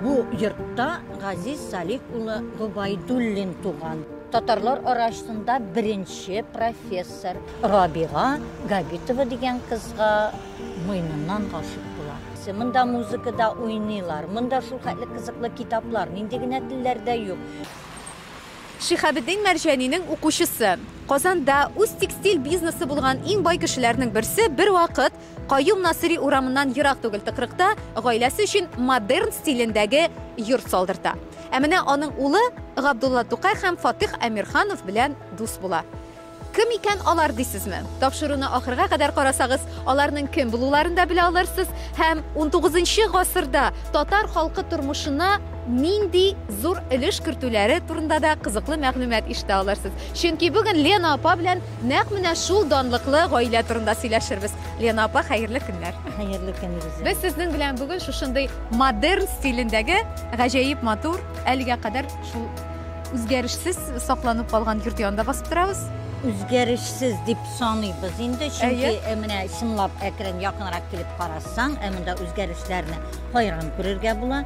Бу йортта Газиз Салих улы Гобайдуллин туган. Татарлар арасында беренче профессор Рабига Габитова дигән кызга муйныннан гашык нәрсә. Монда музыкада уйныйлар. Монда шул хәтле кызыклы китаплар, нинди генә телләрдә юк. Шихабеддин Мәрҗәнинең укучысы. Казанда үз текстиль бизнесы булган иң бай кешеләрнең берсе бервакыт Каюм Насыйри урамыннан ерак түгел тыкрыкта гаиләсе өчен модерн стилендәге йорт салдырта. Ә менә аның улы Габдулла Тукай һәм Фатыйх Әмирханов белән дус була. Кем икән алар дисезме? Тапшыруны ахырга кадәр карасагыз, аларның кем булуларын да белә алырсыз һәм 19 нчы гасырда татар халкы тормышына нинди зур өлеш кертүләре турында да кызыклы мәгълүмат ишетә алырсыз. Чөнки бүген Лена апа белән Нәкъ менә шул данлыклы гаилә турында сөйләшербез. Лена апа, хәерле көннәр! Хәерле көн, Илгизә! Без сезнең белән бүген шушындый модерн стилендәге гаҗәеп матур, әлегә кадәр шул үзгәрешсез сакланып калган йорт янында басып торабыз. Үзгәрешсез дип саныйбыз инде, чөнки Әйе. ә, менә чынлап әкрен якынрак килеп карасаң, ә монда үзгәрешләрне хәйран күрергә була.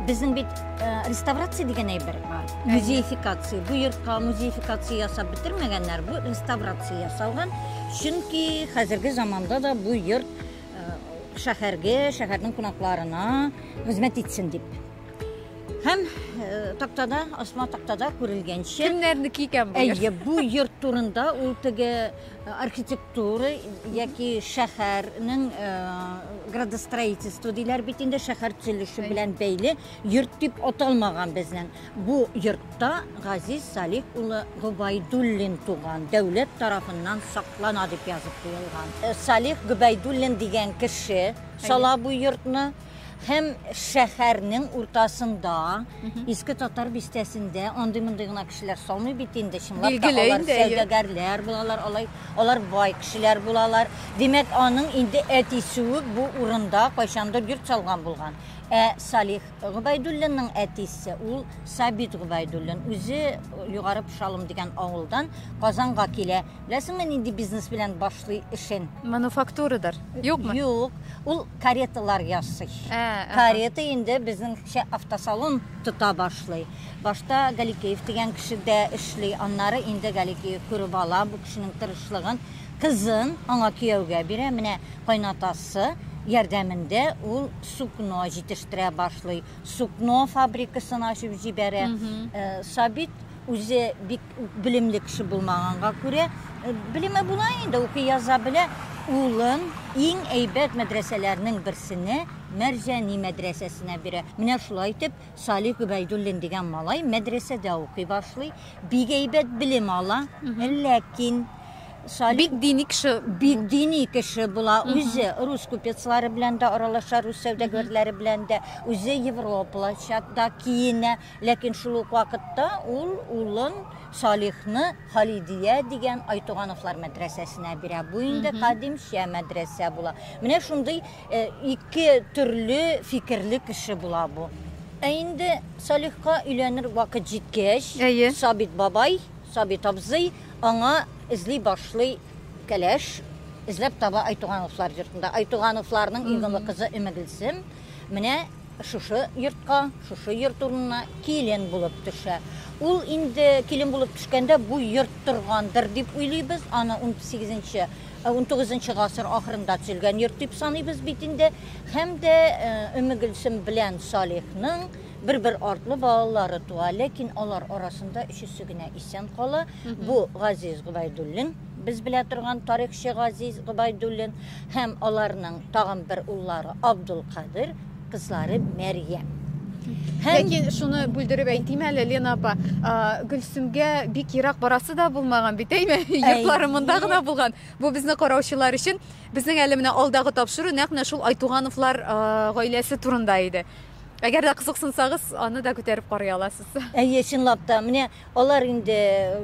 Безнең бит Э, реставрация дигән әйбер бар музеификация бу йортка музеификация ясап бетермәгәннәр бу реставрация ясалган чөнки хәзерге заманда да бу йорт э, шәһәргә шәһәрнең кунакларына хезмәт итсен дип һәм э, тактада асма тактада күрелгәнчә кемнәрнеке икән бу әйе бу йорт турында ул теге архитектор Туры яки шәһәрнең э, градостроительство диләр бит инде шәһәр төзелеше белән бәйле йорт дип аталмаган безнең. Бу йортта Газиз Салих улы Губайдуллин туган, дәүләт тарафыннан саклана дип язып куелган. Э, Салих Губайдуллин дигән кеше сала бу йортны. Һәм шәһәрнең уртасында, Иске Татар бистәсендә андый мондый гына кешеләр салмый бит инде, чынлап та алар сәүдәгәрләр булалар, алай, алар бай кешеләр булалар. Димәк, аның инде әтисе үк бу урында кайчандыр йорт салган булган. Ә Салих Губайдуллинның әтисе ул Сабит Губайдуллин. Үзе Югары Пшалым дигән авылдан Казанга килә. Беләсеңме, нинди бизнес белән башлый эшен? Мануфактурадыр. Юкмы? Юк. Ул кареталар ясый. Ә, ага. Карета инде безнеңчә автосалон тота башлый. Башта Галикеев дигән кеше дә эшли, аннары инде Галикеев күреп ала бу кешенең тырышлыгын, кызын аңа кияүгә бирә. Менә кайнатасы ярдәмендә ул сукно җитештерә башлый, сукно фабрикасын ачып җибәрә. Э, Сабит үзе бик Белемле кеше булмаганга күрә, э, белеме була инде, укый яза белә. Улын иң әйбәт мәдрәсәләрнең берсенә, Мәрҗани мәдрәсәсенә бирә. Менә шулай итеп, Салих Гөбәйдуллин дигән малай мәдрәсәдә укый башлый, бик әйбәт белем ала. Ләкин Салих Бик дини кеше. бик дини кеше була. Үзе рус купецлары белән дә аралаша, рус сәүдәгәрләре белән дә. Үзе европалача да киенә. Ләкин шул ук вакытта ул улын Салихны Халидия дигән Айтугановлар мәдрәсәсенә бирә. Бу инде кадимчә мәдрәсә була. Менә шундый э, ике төрле фикерле кеше була бу. Ә инде Салихка өйләнер вакыт җиткәч, Әйе. Сабит бабай, Сабит абзый аңа эзли башлый кәләш, эзләп таба Айтугановлар йортында. Айтугановларның иң олы кызы Өмегелсем. Менә Шушы йортка, шушы йорт урынына килен булып төшә. Ул инде килен булып төшкәндә бу йорт торгандыр дип уйлыйбыз. Аны 18 нче, 19 нчы гасыр ахырында төзелгән йорт дип саныйбыз бит инде. Һәм дә Өммегөлсем белән Салихның бер-бер артлы балалары туа, ләкин алар арасында өчесе генә исән кала. Бу Газиз Гобайдуллин, без белә торган тарихчы Газиз Гобайдуллин һәм аларның тагын бер уллары Абдулкадыр, кызлары Мәрьям. Һәм Ләкин шуны бүлдереп әйтим әле, Лена апа, а, Гөлсемгә бик ерак барасы да булмаган бит, әйме? Йортлары монда гына булган. Бу безне караучылар өчен безнең әле менә алдагы тапшыру нәкъ менә шул Айтугановлар а, гаиләсе турында иде. Әгәр дә кызыксынсагыз, аны да күтәреп карый аласыз. Әйе, чынлап та, менә Алар инде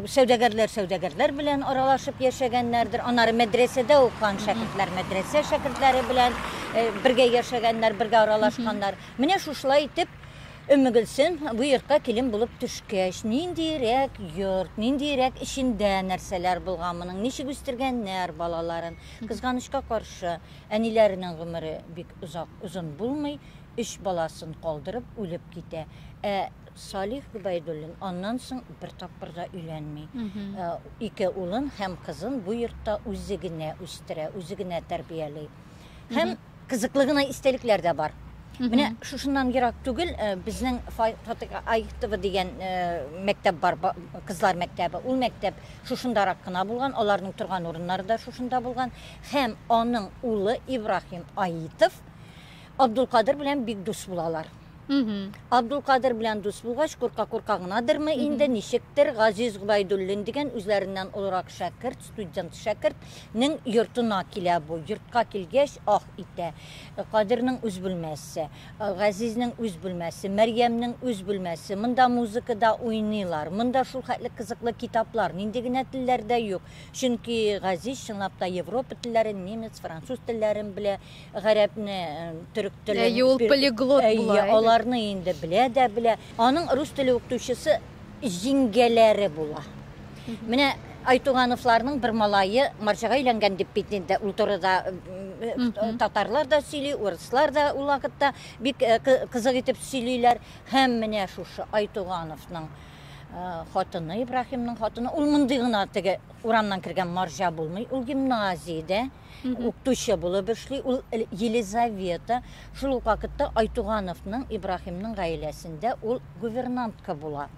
сәүдәгәрләр сәүдәгәрләр белән аралашып яшәгәннәрдер, аннары мәдрәсәдә укыган шәкертләр мәдрәсә шәкертләре белән бергә яшәгәннәр, бергә аралашканнар. Менә шушылай итеп Өммегөлсем бу йортка килен булып төшкәч, ниндиерәк йорт, ниндиерәк эчендә нәрсәләр булган моның, ничек үстергәннәр балаларын. Кызганычка каршы, әниләренең гомере бик озак, озын булмый, өч баласын калдырып үлеп китә. Ә Салих Гобәйдуллин аннан соң бер тапкыр да өйләнми. Э, ике улын һәм кызын бу йортта үзе генә үстерә, үзе генә тәрбияли. Һәм кызыклы гына истәлекләр дә бар. Менә шушыннан ерак түгел э, безнең Фатык Айхтова дигән э, мәктәп бар, кызлар мәктәбе. Ул мәктәп шушындарак кына булган, аларның торган урыннары да шушында булган. Һәм аның улы Ибрахим Аитов Абдулкадыр белән бик дус булалар. Абдулкадыр белән дус булгач, курка-курка гынадырмы инде, ничектер, Газиз Гобәйдуллин дигән үзләреннән олырак шәкерт, студент шәкерт, нең йортына килә бу. Йортка килгәч, ах итә. Кадернең үз бүлмәсе, Газизнең үз бүлмәсе, Мәрьямнең үз бүлмәсе, монда музыка да уйныйлар, монда шул хәтле кызыклы китаплар, нинди генә телләр дә юк. Чөнки Газиз чынлап та Европа телләрен, немец, француз телләрен белә, гарәпне, төрек телен. Әйе, ул полиглот була. Әйе, аларны инде белә дә белә. Аның рус теле укытучысы җиңгәләре була. Менә Айтугановларның бер малайы марҗага әйләнгән дип бит инде ул турыда татарлар да сөйли, урыслар да ул вакытта бик кызык итеп сөйлиләр. Һәм менә шушы Айтугановның хатыны, Ибраһимның хатыны, ул мондый гына теге урамнан кергән марҗа булмый, ул гимназиядә укытучы булып эшли. Ул Елизавета, шул ук вакытта Айтугановның, Ибраһимның гаиләсендә ул гувернантка була.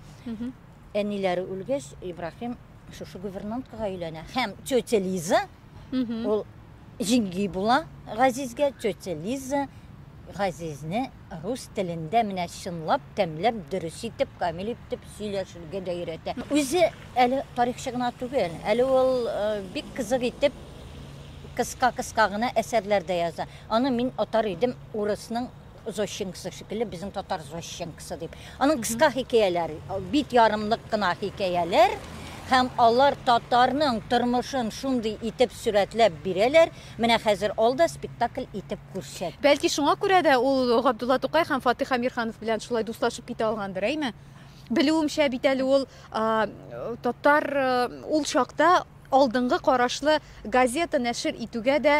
Әниләре үлгәч, Ибраһим шушы гувернанткага өйләнә. Һәм тетя Лиза, ул җиңги була Газизгә, тетя Лиза Газизне Рус телендә менә чынлап, тәмләп, дөрес итеп, камил итеп сөйләшергә дә өйрәтә. Үзе әле тарихчы гына түгел, әле ул бик кызык итеп кыска-кыска гына әсәрләр дә яза. Аны мин атар идем урысның Зощенкосы шикелле, безнең татар Зощенкосы дип. Аның кыска хикәяләр, бит ярымлык кына хикәяләр, һәм алар татарның тормышын шундый итеп сурәтләп бирәләр, Менә хәзер ал да спектакль итеп күрсәт. Бәлки шуңа күрә дә ул Габдулла Тукай һәм Фатих Әмирханов белән шулай дуслашып китә алгандыр, әйме? Белүемчә бит әле ул татар ул чакта алдынгы карашлы газета нәшер итүгә дә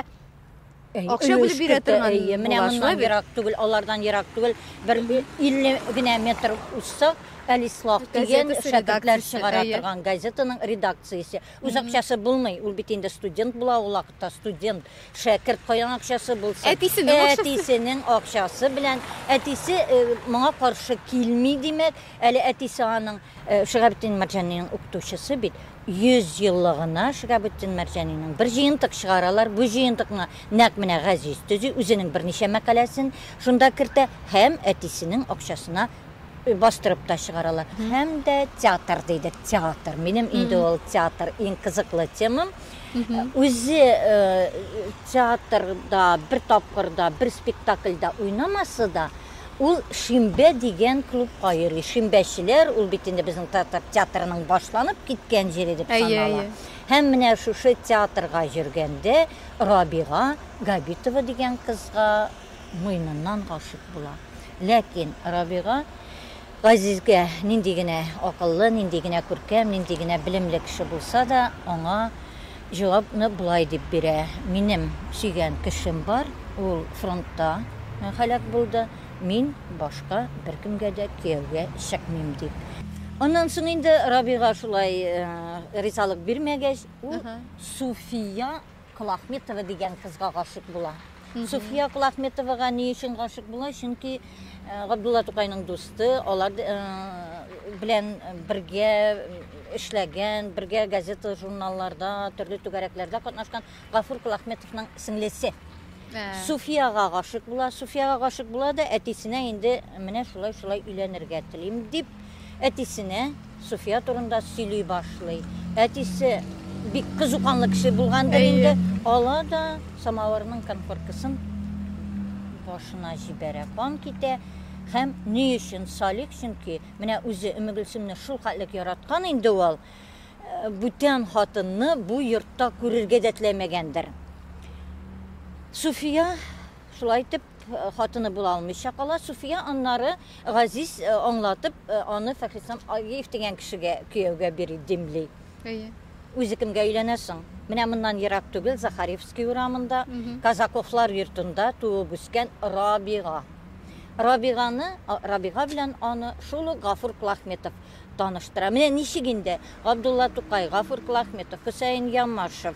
акча бүлеп бирә торган менә моннан ерак түгел алардан ерак түгел бер илле генә метр узса әлислах дигән шәкертләр чыгара торган газетаның редакциясе Үз акчасы булмый, ул бит инде студент була ул вакытта, студент, шәкерт, каян акчасы булсын. Әтисенең акчасы. Әтисенең акчасы белән, әтисе э, моңа каршы килми, димәк, әле әтисе аның э, Шигабетдин Марҗаниның укытучысы бит. 100 еллыгына Шигабетдин Марҗаниның бер җыентык чыгаралар. Бу җыентыкны нәкъ менә Газиз төзи, үзенең берничә мәкаләсен шунда кертә һәм әтисенең акчасына бастырып та чыгаралар. Һәм дә театр дейді, театр. Минем инде ул театр иң кызыклы темам. Үзе театрда бер тапкырда, бер спектакльда уйнамасы да, ул Шимбә дигән клубка йөри. Шимбәчеләр, ул бит инде безнең театр театрының башланып киткән җире дип санала. Һәм менә шушы театрга йөргәндә Рабига Габитова дигән кызга муеныннан гашыйк була. Ләкин Рабига Газизгә нинди генә акыллы, нинди генә күркәм, нинди генә белемле кеше булса да, аңа җавапны болай дип бирә, Минем сөйгән кешем бар, ул фронтта һәлак булды, мин башка беркемгә дә кияүгә чыкмыйм, дип. Аннан соң инде Рабига шулай ризалык бирмәгәч, ул Суфия. Колахметова дигән кызга гашыйк була. Суфия Колахметовага ни өчен гашыйк була? Чөнки Габдулла Тукайның дусты, алар белән бергә эшләгән, бергә газета, журналларда, төрле түгәрәкләрдә катнашкан Гафур Кулахметовның сеңлесе. Суфияга гашык була, Суфияга гашык була да әтисенә инде менә шулай-шулай өйләнергә телим дип Әтисенә Суфия турында сөйли башлый. Әтисе бик кызуканлы кеше булгандыр инде. Ала да самавырның конфоркасын башына җибәрә. Кан китә. Һәм ни өчен Салих? Чөнки менә үзе Өмегөлсемне шул хәтлек яраткан инде ул, э, бүтән хатынны бу йортта күрергә дә теләмәгәндер. Суфия шулай итеп Хатыны була алмыйча кала Суфия, аннары Газиз аңлатып, аны Фәхрислам Агиев дигән кешегә кияүгә бери димли. Әйе. Үзе кемгә өйләнәсең? Менә моннан ерак түгел, Захаревский урамында, Казаковлар йортында туып үскән Рабига. Рабиганы, Рабига белән аны шул ук Гафур Клахметов таныштыра. Менә ничек инде Габдулла Тукай, Гафур Клахметов, Хөсәен Ямашев,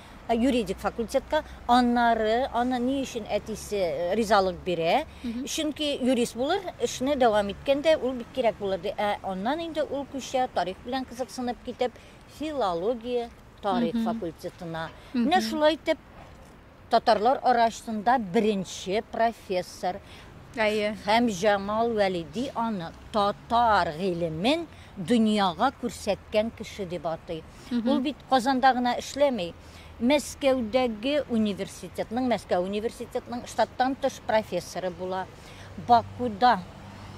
юридик факультетка, аннары аны ни өчен әтисе э, ризалык бирә, чөнки юрист булыр, эшне дәвам иткәндә ул бик кирәк булыр ди. Ә аннан инде ул күчә тарих белән кызыксынып китеп, филология, тарих факультетына. Менә шулай итеп татарлар арасында беренче профессор Әйе. һәм Җамал Вәлиди аны татар гыйлемен дөньяга күрсәткән кеше дип атый. Ул бит Казанда гына эшләми. Мәскәүдәге университетның, Мәскәү университетның штаттан тыш профессоры була. Бакуда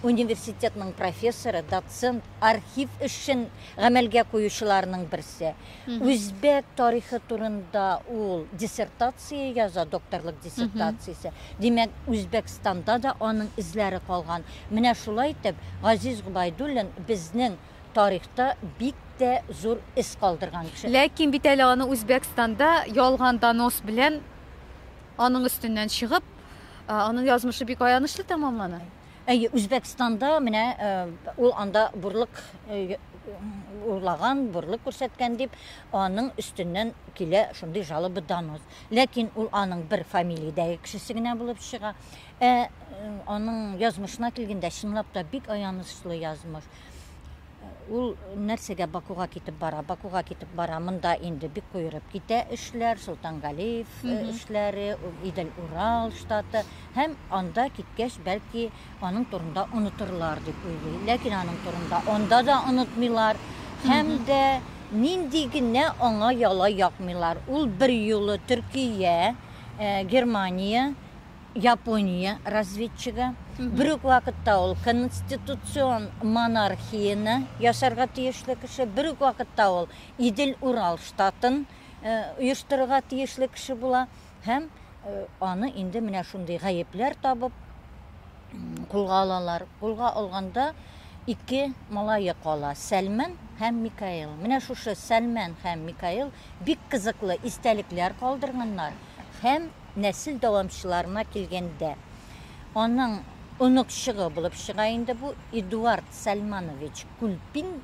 университетның профессоры, доцент, архив эшен гамәлгә куючыларның берсе. Үзбәк тарихы турында ул диссертация яза, докторлык диссертациясе. Димәк, Үзбәкстанда да аның эзләре калган. Менә шулай итеп, Газиз Губайдуллин безнең тарихта бик тә зур эз калдырган кеше. Ләкин бит әле аны Үзбәкстанда ялган донос белән аның өстеннән чыгып, аның язмышы бик аянычлы тәмамлана. Әйе, Үзбәкстанда менә ул анда бурлык урлаган, бурлык күрсәткән дип, аның өстеннән килә шундый жалоба донос. Ләкин ул аның бер фамилиядәге кешесе генә булып чыга. Ә аның язмышына килгәндә, чынлап та бик аянычлы язмыш. Ул нәрсәгә Бакуга китеп бара? Бакуга китеп бара, монда инде бик куерып китә эшләр, Солтангалиев эшләре, Идел-Урал штаты һәм анда киткәч, бәлки, аның турында онытырлар дип уйлый. Ләкин аның турында анда да онытмыйлар һәм дә нинди генә аңа яла якмыйлар. Ул бер юлы Төркия, Германия, Япония разведчигы. Бер үк вакытта ул конституцион монархияне ясарга тиешле кеше, бер үк вакытта ул Идел-Урал штатын оештырырга тиешле кеше була һәм аны инде менә шундый гаепләр табып кулга алалар. Кулга алганда ике малае кала, Сәлмән һәм Микаил. Менә шушы Сәлмән һәм Микаил бик кызыклы истәлекләр калдырганнар һәм Нәсел дәвамчыларына килгәндә, аның оныкчыгы булып чыга инде бу Эдуард Сәлманович Күлпин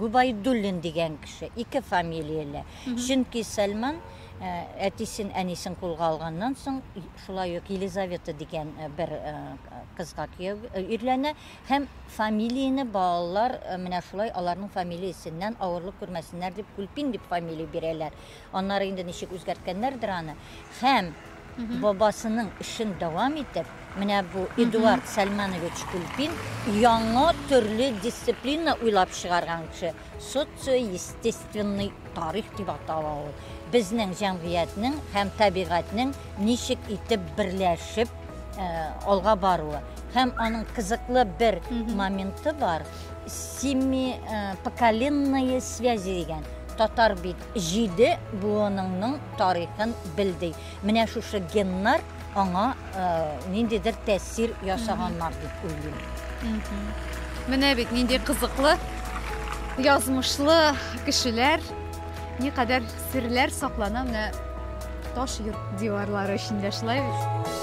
Гобәйдуллин дигән кеше, ике фамилияле. Чөнки Сәлман э, әтисен, әнисен кулга алганнан соң, и- шулай ук Елизавета дигән э, бер э, кызга кияү э, өйләнә һәм фамилияне балалар э, менә шулай аларның фамилиясеннән авырлык күрмәсеннәр дип Күлпин дип фамилия бирәләр. Аннары инде ничек үзгәрткәннәрдер аны. Һәм бабасының эшен дәвам итеп, менә бу Эдуард Сәлманович Кульпин яңа төрле дисциплина уйлап чыгарган кеше. Социо-естественный тарих дип атала ул. Безнең җәмгыятьнең һәм табигатьнең ничек итеп берләшеп э, алга баруы. Һәм аның кызыклы бер моменты бар. Семи э, поколенные связи дигән. Татар бит Җиде буыныңның тарихын бел, ди. Менә шушы геннар аңа ниндидер тәэсир ясаганнар дип уйлыйм. Менә бит нинди кызыклы, язмышлы кешеләр, никадәр серләр саклана менә таш йорт диварлары эчендә, шулай бит?